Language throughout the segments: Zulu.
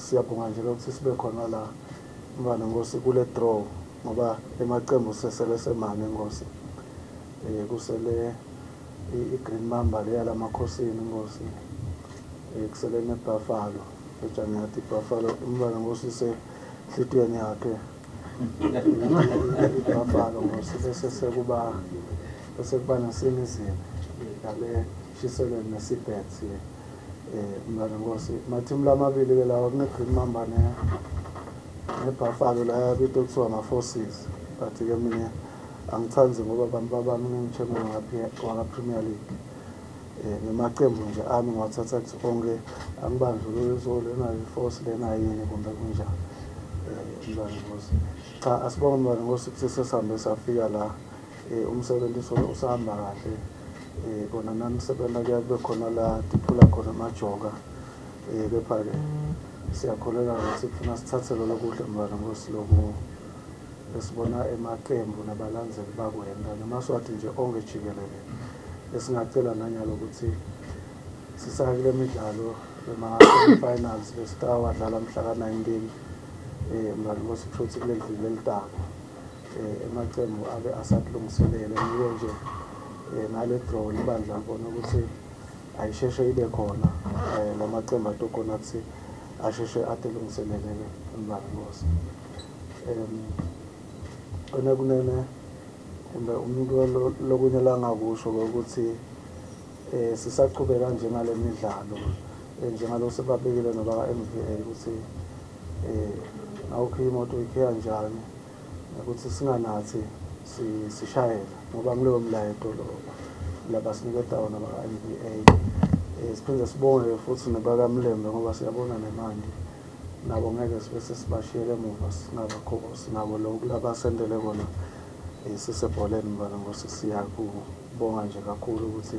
Siyabonga nje ke ukuthi sibe khona la mfana Nkosi kule draw ngoba emaqembu sesele semane Nkosi. Eh kusele i-Green Mamba le yalamakhosini Nkosi. Eh kusele neBuffalo eJanati Buffalo umfana Nkosi se hlitweni yakhe. Buffalo Nkosi bese sekuba bese kuba nasemizini yale Shiselweni neSeabirds ke eh mntwana Nkosi mathimu lamabili ke lawa kuneGreen Mamba ne neBuffalo la yabito kuthiwa amaForces but ke mina angithandi ngoba abantu babami ngengithembe wakaPremier League eh ngamaqembu nje ami ngiwathatha kuthi onke angibanjwe kuzo lena iForce lena yini kumbe kunjani eh mntwana Nkosi cha asibonge mntwana Nkosi ukuthi sesihambe safika la Eh, umsebenzi usuke usahamba kahle eh, kona nami sebenza kuya kube khona la diphula khona amajoka eh, kepha-ke siyakholelwa ukuthi kufuna sithathe lolo kuhle mntwana ngosiloku esibona emaqembu nabalandzeli bakwenda namaswati nje onke jikelele esingacela nanyalo ukuthi sisake kule midlalo ema-finals besitawadlala mhla ka-19 um mntwana ngosikusho ukuthi kuleli dlile elitako eh, emaqembu abe asakulungiselele ngiyo nje eh, nale draw libandla ngibona ukuthi ayisheshe ibe khona eh, la maqembu atokhona ukuthi asheshe adelungiselele umbani ngosi um kona kunene kumbe umuntu lokunye langakusho ukuthi eh sisaqhubeka nje nale midlalo eh, njengalo sebabekile noba MVA ukuthi um awukho imoto ikhiya njani ukuthi singanathi sishayela ngoba ngilowo mlayeto lo labasiniketa wona baka-n b a um eh, siphinde sibonge-ke futhi nebakamlembe ngoba siyabona nemandi nabo ngeke sibe sesibashiyele emuva singabakho sinabo lo kulabasendele kona um sisebholeni mfana ngosi siyakubonga nje kakhulu ukuthi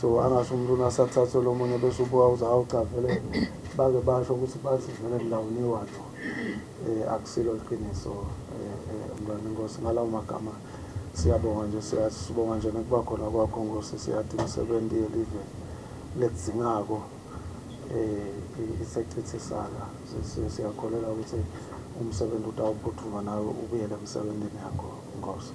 so angasho umuntu unasathathwe lo munye bese ubuka uze hawu cha vele bake basho ukuthi bathi vele ngilawuniwa lo um akusilo liqiniso um mntwana inkosi ngalawo magama siyabonga nje siyasibonga nje nokuba khona kwakho nkosi siyathi imisebenzi yelive ledzingako um isechithisaka siyakholelwa ukuthi umsebenzi utawuphuthuma nawe ubuyele emsebenzini yakho nkosi